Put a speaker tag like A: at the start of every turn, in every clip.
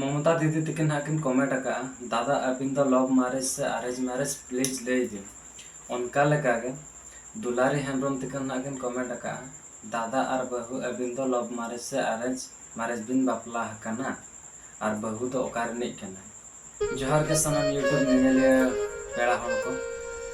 A: ᱢᱚᱢᱚᱛᱟ ᱫᱤᱫᱤ ᱛᱤᱠᱤᱱ ᱦᱟᱸᱜ ᱠᱤᱱ ᱠᱚᱢᱮᱴ ᱟᱠᱟᱜᱼᱟ ᱫᱟᱫᱟ ᱟᱹᱵᱤᱱ ᱫᱚ ᱞᱚᱵᱷ ᱢᱟᱨᱮᱡᱽ ᱥᱮ ᱟᱨᱮᱡᱽ ᱢᱟᱨᱮᱡᱽ ᱯᱞᱤᱡᱽ ᱞᱟᱹᱭ ᱵᱤᱱ ᱚᱱᱠᱟ ᱞᱮᱠᱟ ᱜᱮ ᱫᱩᱞᱟᱨᱤ ᱦᱮᱢᱵᱨᱚᱢ ᱛᱤᱠᱤᱱ ᱦᱟᱸᱜ ᱠᱤᱱ ᱠᱚᱢᱮᱴ ᱟᱠᱟᱜᱼᱟ ᱫᱟᱫᱟ ᱟᱨ ᱵᱟᱹᱦᱩ ᱟᱹᱵᱤᱱ ᱫᱚ ᱞᱚᱵᱷ ᱢᱟᱨᱮᱡᱽ ᱥᱮ ᱟᱨᱮᱡᱽ ᱢᱟᱨᱮᱡᱽ ᱵᱤᱱ ᱵᱟᱯᱞᱟ ᱦᱟᱠᱟᱱᱟ ᱟᱨ ᱵᱟᱹᱦᱩ ᱫᱚ ᱚᱠᱟ ᱨᱤᱱᱤᱡ ᱠᱟᱱᱟᱭ? ᱡᱚᱦᱟᱨ ᱜᱮ ᱥᱟᱱᱟᱢ ᱭᱩᱴᱩᱵᱽ ᱧᱮᱧᱮᱞᱤᱭᱟᱹ ᱯᱮᱲᱟ ᱦᱚᱲ ᱠᱚ᱾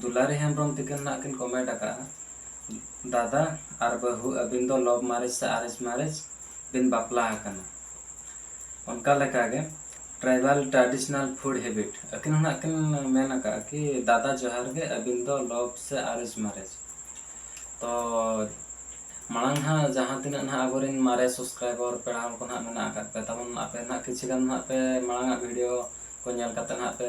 A: ᱫᱩᱞᱟᱨᱤ ᱦᱮᱢᱵᱽᱨᱚᱢ ᱛᱤᱠᱤᱱ ᱱᱟᱦᱟᱜ ᱠᱤᱱ ᱠᱚᱢᱮᱱᱴ ᱟᱠᱟᱫᱼᱟ ᱫᱟᱫᱟ ᱟᱨ ᱵᱟᱹᱦᱩ ᱟᱹᱵᱤᱱ ᱫᱚ ᱞᱚᱵᱷ ᱢᱟᱨᱮᱡᱽ ᱥᱮ ᱟᱨᱮᱡᱽ ᱢᱟᱨᱮᱡᱽ ᱵᱤᱱ ᱵᱟᱯᱞᱟ ᱟᱠᱟᱱᱟ ᱚᱱᱠᱟ ᱞᱮᱠᱟ ᱜᱮ ᱴᱨᱟᱭᱵᱟᱞ ᱴᱨᱟᱰᱤᱥᱚᱱᱟᱞ ᱯᱷᱩᱰ ᱦᱮᱵᱤᱴ ᱟᱹᱠᱤᱱ ᱦᱚᱸ ᱱᱟᱦᱟᱜ ᱠᱤᱱ ᱢᱮᱱ ᱟᱠᱟᱫᱼᱟ ᱠᱤ ᱫᱟᱫᱟ ᱡᱚᱦᱟᱨ ᱜᱮ ᱟᱹᱵᱤᱱ ᱫᱚ ᱞᱚᱵᱷ ᱥᱮ ᱟᱨᱮᱡᱽ ᱢᱟᱨᱮᱡᱽ ᱛᱚ ᱢᱟᱲᱟᱝ ᱦᱟᱸᱜ ᱡᱟᱦᱟᱸ ᱛᱤᱱᱟᱹᱜ ᱱᱟᱦᱟᱜ ᱟᱵᱚᱨᱮᱱ ᱢᱟᱨᱮ ᱥᱟᱵᱥᱠᱨᱟᱭᱵᱟᱨ ᱯᱮᱲᱟ ᱦᱚᱲ ᱠᱚ ᱱᱟᱦᱟᱜ ᱢᱮᱱᱟᱜ ᱟᱠᱟᱫ ᱯᱮ ᱛᱟᱵᱚᱱ ᱟᱯᱮ ᱱᱟᱦᱟᱜ ᱠᱤᱪᱷᱩ ᱜᱟᱱ ᱱᱟᱦᱟᱜ ᱯᱮ ᱢᱟᱲᱟᱝ ᱟᱜ ᱵᱷᱤᱰᱤᱭᱳ ᱠᱚ ᱧᱮᱞ ᱠᱟᱛᱮ ᱱᱟᱦᱟᱜ ᱯᱮ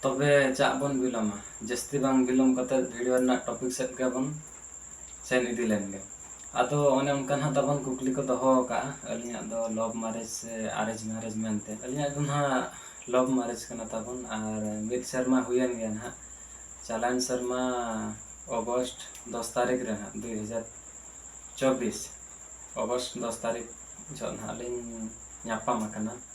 A: ᱛᱚᱵᱮ ᱪᱟᱜ ᱵᱚᱱ ᱵᱤᱞᱚᱢᱟ ᱡᱟᱹᱥᱛᱤ ᱵᱟᱝ ᱵᱤᱞᱚᱢ ᱠᱟᱛᱮ ᱵᱷᱤᱰᱤᱭᱳ ᱨᱮᱱᱟᱜ ᱴᱚᱯᱤᱠ ᱥᱮᱫ ᱜᱮᱵᱚᱱ ᱥᱮᱱ ᱤᱫᱤ ᱞᱮᱱ ᱜᱮ ᱟᱫᱚ ᱚᱱᱮ ᱚᱱᱠᱟ ᱱᱟᱦᱟᱜ ᱛᱟᱵᱚᱱ ᱠᱩᱠᱞᱤ ᱠᱚ ᱫᱚᱦᱚ ᱟᱠᱟᱫᱼᱟ ᱟᱹᱞᱤᱧᱟᱜ ᱫᱚ ᱞᱚᱵᱽ ᱢᱟᱨᱮᱡᱽ ᱥᱮ ᱟᱨᱮᱡᱽ ᱢᱟᱨᱮᱡᱽ ᱢᱮᱱᱛᱮ ᱟᱹᱞᱤᱧᱟᱜ ᱫᱚ ᱱᱟᱦᱟᱜ ᱞᱚᱵᱽ ᱢᱟᱨᱮᱡᱽ ᱠᱟᱱᱟ ᱛᱟᱵᱚᱱ ᱟᱨ ᱢᱤᱫ ᱥᱮᱨᱢᱟ ᱦᱩᱭᱮᱱ ᱜᱮᱭᱟ ᱱᱟᱦᱟᱜ ᱪᱟᱞᱟᱣᱮᱱ ᱥᱮᱨᱢᱟ ᱚᱜᱚᱥᱴ ᱫᱚᱥ ᱛᱟᱹᱨᱤᱠᱷ ᱨᱮ ᱱᱟᱦᱟᱜ ᱫᱩᱭ ᱦᱟᱡᱟᱨ ᱪᱚᱵᱽᱵᱤᱥ ᱚᱜᱚᱥᱴ ᱫᱚᱥ ᱛᱟᱹᱨᱤᱠᱷ ᱡᱚᱦᱚᱜ ᱱᱟᱦᱟᱜ ᱞᱤᱧ ᱧᱟᱯᱟᱢ ᱟᱠᱟᱱᱟ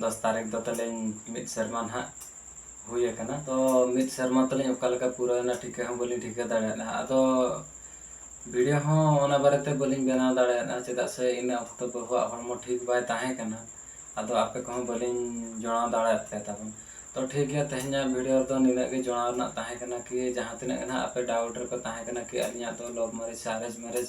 A: ᱫᱚᱥ ᱛᱟᱹᱨᱤᱠᱷ ᱫᱚ ᱛᱟᱹᱞᱤᱧ ᱢᱤᱫ ᱥᱮᱨᱢᱟ ᱱᱟᱦᱟᱜ ᱦᱩᱭ ᱟᱠᱟᱱᱟ ᱛᱚ ᱢᱤᱫ ᱥᱮᱨᱢᱟ ᱛᱟᱹᱞᱤᱧ ᱚᱠᱟ ᱞᱮᱠᱟ ᱯᱩᱨᱟᱹᱣᱮᱱᱟ ᱴᱷᱤᱠᱟᱹ ᱦᱚᱸ ᱵᱟᱹᱞᱤᱧ ᱴᱷᱤᱠᱟᱹ ᱫᱟᱲᱮᱭᱟᱫᱟ ᱟᱫᱚ ᱵᱷᱤᱰᱤᱭᱳ ᱦᱚᱸ ᱚᱱᱟ ᱵᱟᱨᱮᱛᱮ ᱵᱟᱹᱞᱤᱧ ᱵᱮᱱᱟᱣ ᱫᱟᱲᱮᱭᱟᱫᱟ ᱪᱮᱫᱟᱜ ᱥᱮ ᱤᱱᱟᱹ ᱚᱠᱛᱚ ᱵᱟᱹᱦᱩᱣᱟᱜ ᱦᱚᱲᱢᱚ ᱴᱷᱤᱠ ᱵᱟᱭ ᱛᱟᱦᱮᱸ ᱠᱟᱱᱟ ᱟᱫᱚ ᱟᱯᱮ ᱠᱚᱦᱚᱸ ᱵᱟᱹᱞᱤᱧ ᱡᱚᱲᱟᱣ ᱫᱟᱲᱮᱭᱟᱫ ᱯᱮ ᱛᱟᱵᱚᱱ ᱛᱚ ᱴᱷᱤᱠ ᱜᱮᱭᱟ ᱛᱮᱦᱮᱧᱟᱜ ᱵᱷᱤᱰᱤᱭᱳ ᱨᱮᱫᱚ ᱱᱤᱱᱟᱹᱜ ᱜᱮ ᱡᱚᱲᱟᱣ ᱨᱮᱱᱟᱜ ᱛᱟᱦᱮᱸ ᱠᱟᱱᱟ ᱠᱤ ᱡᱟᱦᱟᱸ ᱛᱤᱱᱟᱹᱜ ᱜᱮ ᱱᱟᱦᱟᱜ ᱟᱯᱮ ᱰᱟᱣᱩᱴ ᱨᱮᱯᱮ ᱛᱟᱦᱮᱸ ᱠᱟᱱᱟ ᱠᱤ ᱟᱹᱞᱤᱧᱟᱜ ᱫᱚ ᱞᱚᱵᱷ ᱢᱮᱨᱮᱡᱽ ᱥᱮ ᱟᱨᱮᱡᱽ ᱢᱮᱨᱮᱡᱽ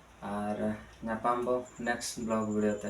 A: ᱟᱨ ᱧᱟᱯᱟᱢ ᱟᱵᱚ ᱱᱮᱠᱥᱴ ᱵᱞᱚᱜᱽ ᱵᱷᱤᱰᱤᱭᱳ ᱛᱮ